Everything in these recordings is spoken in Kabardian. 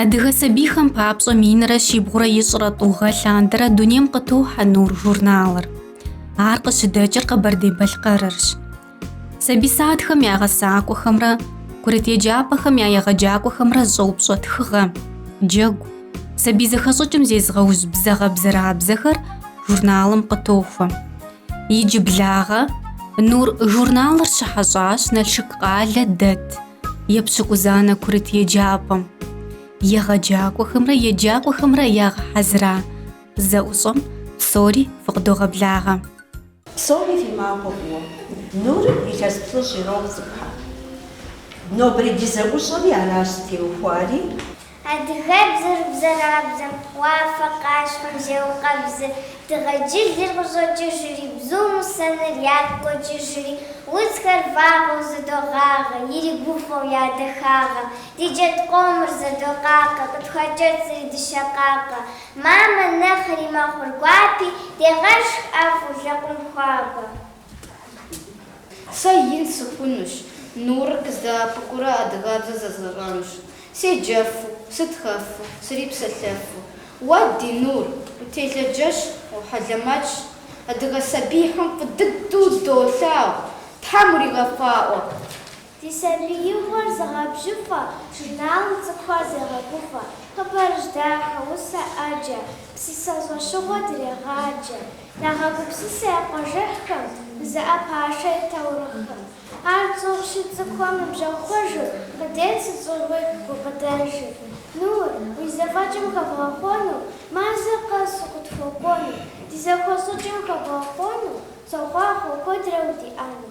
Адыгэ сабийхэм папщӏэ минрэ щибгъурэ ищӏрэ тӏу гъэ лъандэрэ дунейм къытохьэ Нур журналыр. Ар къыщыдэкӏыр Къэбэрдей-Балъкъэрырщ. Сабий садхэм я гъэсакӏуэхэмрэ курыт еджапӏэхэм я егъэджакӏуэхэмрэ зыщӏэупщӏэ тхыгъэ, джэгу, сабий зэхэщӏыкӏым зезыгъэужь бзэгъэбзэрабзэхэр журналым къытохуэ. Иджыблагъэ Нур журналыр щыхьэщӏащ Налшык къалэ дэт епщыкӏузанэ курыт еджапӏэм. Егъэджакӏуэхэмрэ еджакӏуэхэмрэ ягъэхьэзыра зэӏущӏэм псори фыкъыдогъэблагъэ. Псори фи махуэ фӏыуэ. Нурым илъэс плӏыщӏ ирохъу цӏыкӏухэр. Нобэрей ди зэӏущӏэми аращ зытеухуари. Адыгэбзэр бзэрабзэм, уафэ къащхъуэм зеукъэбзыр, дыгъэ джылыр къыщӏокӏыжри, бзум усэныр ягу къокӏыжри, удзхэр вагъуэу зэдогъагъэ, иригуфӏэу я дахагъэ. Ди джэд къомыр зэдокъакъэ, къытхуакӏэцӏри дыщэ къакъэ. Мамэ нэхъри мэхъур гуапи, дегъэшх ӏэфӏу лэкъум хуабэ. Сэ ин сыхъунущ, Нурыр къыздэӏэпыкъурэ адыгэбзэ зэзгъэщӏэнущ. Седжэфу, сытхэфу, срипсэлъэфу. Уэ, ди Нур, утелъыджэщ, ухьэлэмэтщ, адыгэ сабийхэм фӏы дыдэу удолъагъу, Тхьэм уригъэфӏакӏуэ! Ди сабиигъуэр зыгъэбжьыфӏэ, Журналым цӏыкӏухэр дегъэгуфӏэ. Хъыбарыжь дахэ, усэ ӏэджэ, Псысэ щӏэщыгъуэ дрегъаджэ. Дагъэгупсысэ я къуажэхьхэм, Дызыӏэпашэ и таурыхъхэм. Ар цӏыхущи цӏыкӏухэм ныбжьэгъу хъужу, Къыдет сыт щыгъуи гукъыдэжу. Нур, уи зэфӏэкӏым хэбгъэхъуэну, Мазэ къэс укъытхуэкӏуэну. Ди зэхэщӏыкӏым хэбгъэхъуэну, Сохъуахъуэ куэдрэ удиӏэну.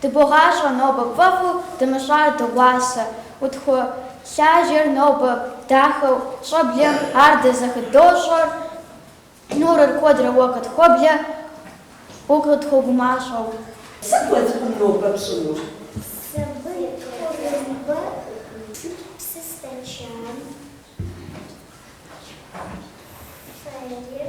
Дыбогъащӏэ нобэ фӏэфӏу дымыщӏар дыгъуасэ, утхуолажьэр нобэ дахэу щӏэблэм ар дэ зыхыдощӏэр, Нурыр куэдрэ уэ къытхуэблэ, укъытхуэгумащӏэу. Сыт уэ цӏыкӏум нобэ пщӏэнур? Сабын тхъурымбэ. Сыт псы стэчан фэир?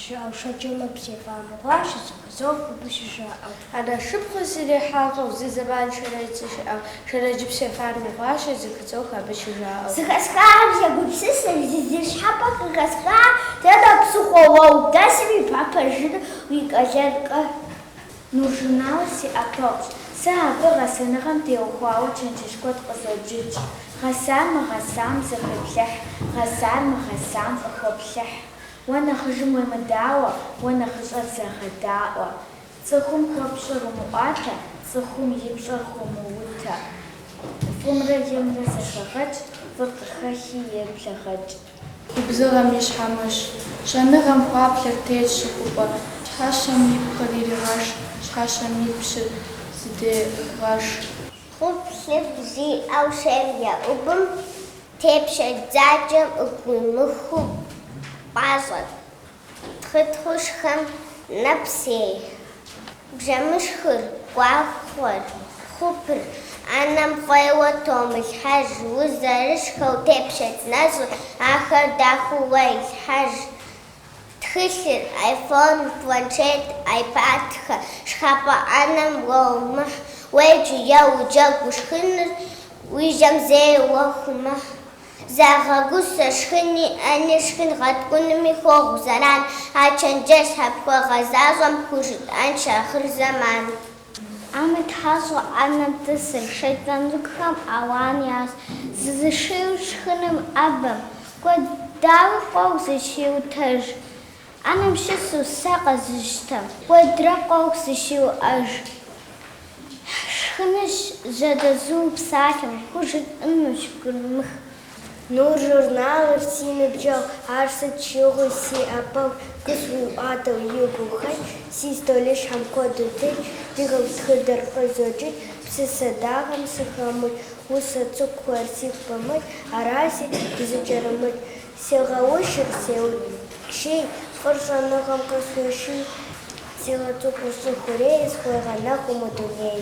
Жаӏэу Шэджэмыпс ефамэ хъуащ щызэхуэзэу фӏыгу щыжаӏэу. Анэ шыпхъум срихьэщӏэу, зы зэман Шэрэдж сыщыӏэу, Шэрэджыпс ефамэ хъуащ щызэхуэзэу абы щыжаӏэу. Зэхэсхахэм сегупсысыр, зы зы щхьэпэ къыхэсха, дэнэ псыхъуэ уэ удэсми ухуэпэжыныр уи къалэнкъэ? Нур журналыр си ӏэпэгъущ, сэ абы гъэсэныгъэм теухуауэ чэнджэщ куэд къызоджыкӏ, гъэсар мыгъэсам зэхуеплъыхь, гъэсар мыгъэсам фӏыхуэплъыхь. Уэ нэхъыжым уемыдауэ, уэ нэхъыщӏэр зэгъэдаӏуэ. Цӏыхум хуэпщӏыр умыӏуатэ, цӏыхум и пщӏэр хуомыутэ. Фӏымрэ емрэ зэхэгъэкӏ, фӏыр къыхэхи еплъэгъэкӏ. Губзыгъэм и щхьэмыщ. Щэныгъэм хуаплъэр тетщ щыхупӏэ. Щхьэщэм и пкъыр иригъэш, щхьэщэм и пщыр зыдегъэш. Хъуплъыфӏ зиӏэу шейм еӏубым. Тепщэч дзакӏэм ӏуумыхыу пӏащӏэ-тхъытхъыу шхэм нэпсей, бжэмышхыр, гуахъуэр, хъупыр, ӏэнэм фӏейуэ томылъхьэж, узэрышхэу тепщэч нэщӏыр, ахэр дахэу уэ илъхьэж, Тхылъыр, айфон, планшет, айпадхэ, шхапӏэ ӏэнэм уэ умыхь, уеджэу е уджэгуу ушхыныр уи жьэм зэи уэ хуумыхь. Загъэгусэ шхыни ӏэни, шхын гъэткӏунми хуохъу зэран, а чэнджэщхэр пхуэгъэзащӏэм пхужытӏэнщ ахъырзэман. Ӏэмытхьэщӏу ӏэнэм тӏысыр, шейтӏан цӏыкӏухэм ауан ящӏ, зызышийуэ шхыным ӏэбэм, куэд дауи къохъу зыщиутэж, ӏэнэм щысу сэ къэзыщтэм, куэдрэ къохъу зыщиуӏэж, шхыныщ жьэдэзу псалъэм, хужытӏынущ гурымыхь, Нур журналыр си ныбжьэгъу, ар сыт щыгъуи си ӏэпэгъу, къысхуиӏуатэу и гухэлъ, си стӏолыщхьэм куэду телъ, ди хэку тхыдэр къызоджыкӏ, псысэ дахэм сыхэмыкӏ, усэ цӏыкӏухэр сигу пымыкӏ, аращи, дызыкӏэрымыкӏ. Сегъэушыр сеущий, фӏыр щӏэныгъэм къысхуеший, сигъэцӏыхуу си хъурей, схуегъэнэху мы дуней.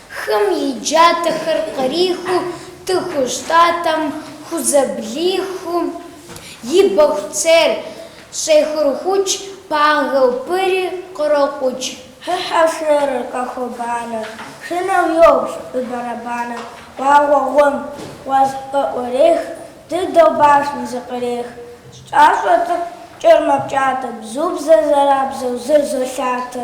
Хым и джатэхэр кърихыу тыхущ тӏатӏэм хузэблихыу, и бэху цейр щӏехурхукӏ, пагэу пыри кърокъукӏ. Хыхьэу шэрыр къэхуэбанэ, шынэу йобж и бэрэбанэ. Вагъуэ гъуэм гъуэз къыӏурех, дыдэу башым зыкъырех. Щӏащӏэ цӏыкӏур мэпкӏатэ, бзу бзэ бзэрабзэу зэрызолъатэ.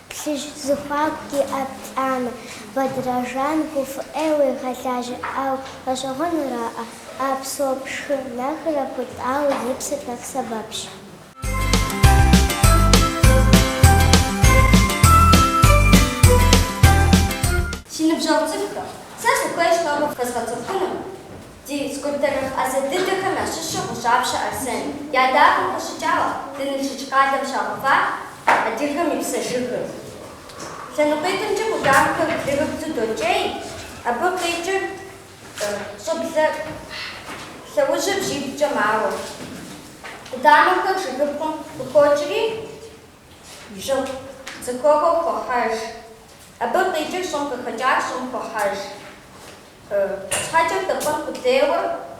Плъыжь зыхуаку диӏэ плӏанэ, Бэдрэжан гуфӏыӏей уегъэлажьэӏау гъэщӏэгъуэнураӏэ, а псо пшхы нэхърэ ппытӏауэ и псыр нэхъ сэбэпщ. Си ныбжьэгъу цӏыкӏухэ, сэ сыхуейщ тӏэкӏу фэзгъэцӏыхуну. Ди скульптор ӏэзэ дыдэхэм ящыщу Гъущӏапщэ Арсен и ӏэдакъэм къыщӏэкӏауэ ди Налшык къалэм щагъэува адыгэм и псэ жыгыр. Лъэныкъуитӏымкӏэ къудамэхэр блырыблу докӏей, абы къикӏыр щӏэблэ лъэужьыр бжьиблкӏэ мауэ. Къудамэхэр жыгыпкъым къыхокӏри, жыг зыхуэгъэу хохьэж. Абы къикӏыр щӏым къыхэкӏар щӏым хохьэж. Щхьэкӏэ тӏэпӏар къулейуэ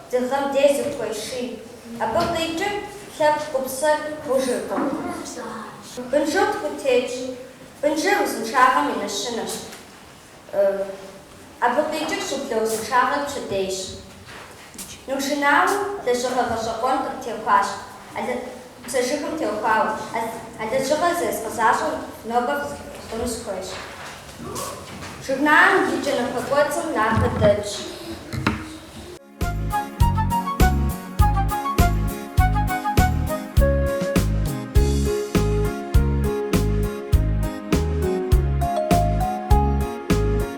дыгъэм дей зыхуеший, абы къикӏыр лъэпкъ гупсэр гъужыркъым. Бынжэу тху тетщ, бынжэр узыншагъэм и нэщэнэщ, абы къикӏыр щӏэблэ узыншагъэр пщэдейщ. Нур журналым лэжьыгъэ гъэщӏэгъуэн къытехуащ, псэ жыгым теухуауэ. А лэжьыгъэр зэзгъэзащӏэр нобэ хъуну сыхуейщ. Журналым и кӏэнэхъуэ кӏуэцӏым напэ дэтщ.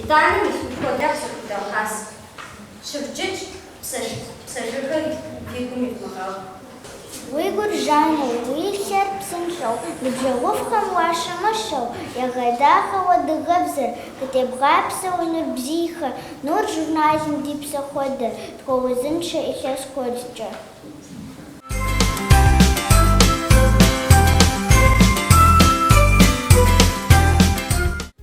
Итӏанэ мис уи хуэдэр сыхудогъэс. Щывджыкӏэ, псэ жыгыр фи гум ивмыгъэху. Уи гур жану, уи лъэр псынщӏэу, ныбжьэгъуфӏхэм уащымыщӏэу, егъэдахэу адыгэбзэр, къыттебгъапсэу нур бзийхэр, Нур журналым ди псэ хуэдэ, тхуэузыншэ илъэс куэдкӏэ.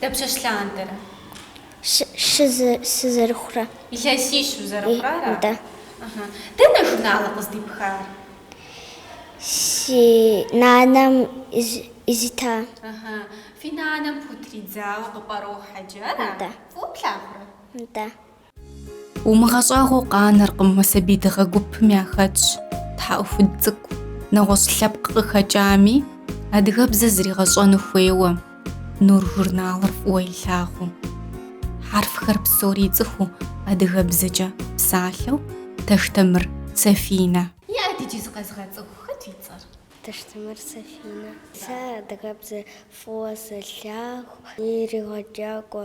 Дапщэщ лъандэрэ? Щы сызэрыхъурэ. Илъэсищ узэрыхъурэ ара? Да. Ыхьы. Дэнэ журналыр къыздипхар? Си нанэм къызита. Ыхьы. Фи нанэм пхутридзауэ къыпӏэрохьэджэ ара? Да. Фӏыуэ плъагъурэ? Да. Умыгъэщӏагъуэу къанэркъым мы сабий дыгъэ гупым яхэтщ, тхьэӏухуд цӏыкӏу, нэгъуэщӏ лъэпкъ къыхэкӏами, адыгэбзэ зригъэщӏэну хуейуэ, Нур журналыр фӏыуэ илъагъуу. Хьэрфхэр псори ицӏыхуу адыгэбзэкӏэ псалъэу, Таштэмыр Сафинэ. Иӏэт иджы зыкъэзыгъэцӏыху, хэт уи цӏэр? Таштэмыр Сафинэ. Сэ адыгэбзэ фӏыуэ сэлъагъу, си егъэджакӏуэ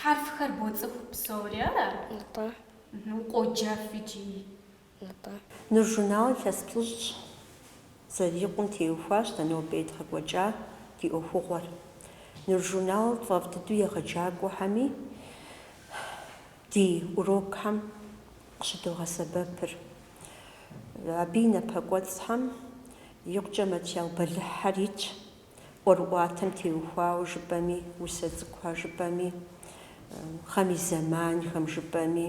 Хьэрфхэр боцӏыху псори, ара? Нтӏэ. Укъоджэф икӏи. Нтӏэ. Нур журналыр илъэс плӏыщӏ зэрикъум теухуащ дэ нобэ едгъэкӏуэкӏа ди ӏуэхугъуэр. Нур журналыр фӏэфӏ дыдэу егъэджакӏуэхэми ди урокхэм къыщыдогъэсэбэпыр. Абы и напэкӏуэцӏхэм икъукӏэ материал бэлыхьхэр итщ. ӏуэрыӏуатэм теухуауэ жыпӏэми, усэ цӏыкӏуха жыпӏэми, гъэм и зэманхэм жыпӏэми.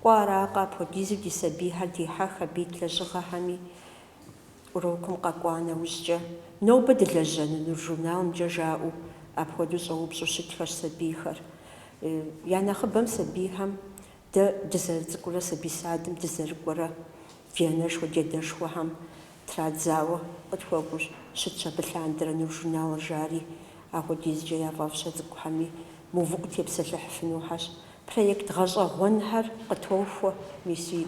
Кӏуэ аракъэ, апхуэдизу ди сабийхэр дихьэх абы ит лэжьыгъэхэми. Урокым къэкӏуа нэужькӏэ, нобэ дылэжьэну Нур журналымкӏэ жаӏэу, апхуэдэу щӏэупщӏу щытхэщ сабийхэр. Я нэхъыбэм сабийхэм Дэ дызэрыцӏыкӏурэ сабий садым дызэрыкӏуэрэ ди анэшхуэ, ди адэшхуэхэм традзауэ къытхуэкӏуэу щытщ абы лъандэрэ Нур журналыр жари. Апхуэдизкӏэ яфӏэфӏщ а цӏыкӏухэми, мыувыӏэу тепсэлъыхьыфынухэщ. Проект гъэщӏэгъуэнхэр къытохуэ, миси.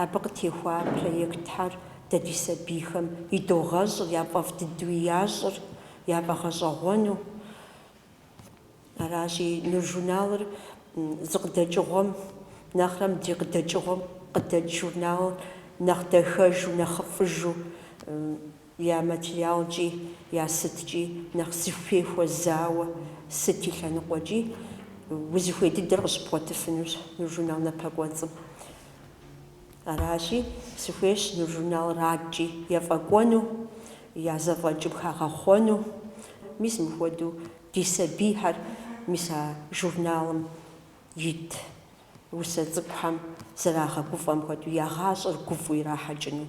Абы къытехуа проектхэр дэ ди сабийхэм идогъэщӏыр, яфӏэфӏ дыдэуи ящӏыр яфӏэгъэщӏэгъуэну. Аращи, Нур журналыр зы къыдэкӏыгъуэм нэхърэ мыдрей къыдэкӏыгъуэм къыдэкӏ журналыр нэхъ дахэжу, нэхъыфӏыжу, я материалкӏи, я сыткӏи нэхъ зыхуей хуэзауэ, сыт и лъэныкъуэкӏи, узыхуей дыдэр къыщыбгъуэтыфынущ Нур журнал напэкӏуэцӏым. Аращи, сыхуейщ Нур журналыр адэкӏи ефӏэкӏуэну, я зэфӏэкӏым хагъэхъуэну. Мис мыхуэдэу ди сабийхэр мис а журналым ит усэ цӏыкӏухэм зэрагъэгуфӏэм хуэдэу я гъащӏэр гуфӏу ирахьэкӏыну.